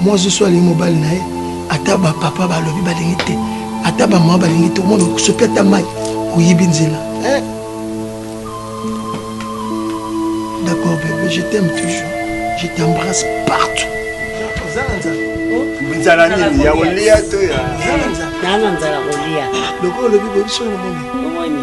Mwasi so alingi mobali na ye, ata ba papa balobi balingi te, ata ba mama balingi te, omona soki ata mai oyibi nzela. Eh? D'accord bébé, je t'aime toujours. Je t'embrasse partout. nzala nini ya kolia to ya nzala kolia lokola olobi boyebi soki omoni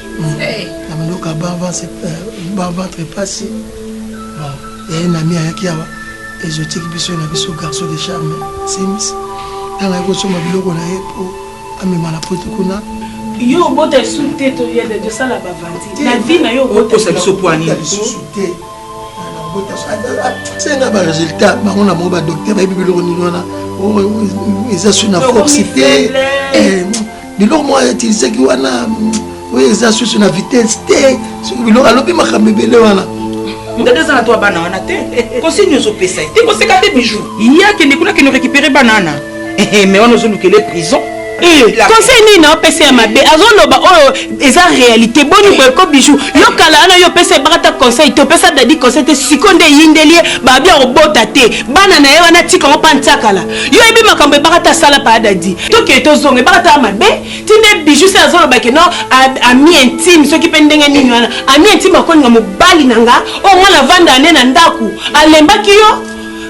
na mandoka baventre mpasi bon yaye nami ayaki awa exotique biso na biso garçon de charme sims ntango ayaki kosomba biloko na ye mpo amema na poto kuna yo obota esu te toyede tosala bavanti na vi na yo okosa biso poani lisusu te senga baresultat bango na bango badokter bayebi biloko nini wana oh, eza su na force te biloko moko atilisaki wana oyo eza susu na vitesse te soki biloko alobi makambo ebele wana dada eza na to bana wana te kosi nyonso opesa ye te koseka te bijou ye akende kuna kende récupéré bana wana eh, eh, mais wana ozolukele prison eh, conseil nini naopesa ya mabe azoloba oyo oh, eza réalité boni boye ko bijou yo kala wana yo opesa ebaka ta conseil te opesa dadi conseil te siko nde eyindeli ye babia obota te bana na ye wana tika ngo mpa ntiakala yo yebi makambo ebaka ta sala pa dadi toke tozonga ebaka ta mabe ti nde bijou se azoloba ke no ami intime soki mpe ndenge nini wana ami intime akolinga mobali na nga oyo nga navanda ne na ndako alembaki yo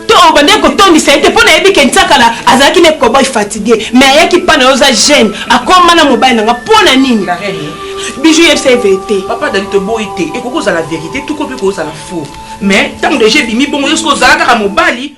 to obandaki kotondisa ye te mpo nayebi ke nsakala azalaki ne koboy fatigue mais ayaki mpa na yo oza jeune akoma na mobali na nga mpo na nini bijou yebisa ye verite papa dadi toboyi te ekoki kozala verite tuko mpe kozala faux mais ntango deja ebimi bongo yo soki ozala kaka mobali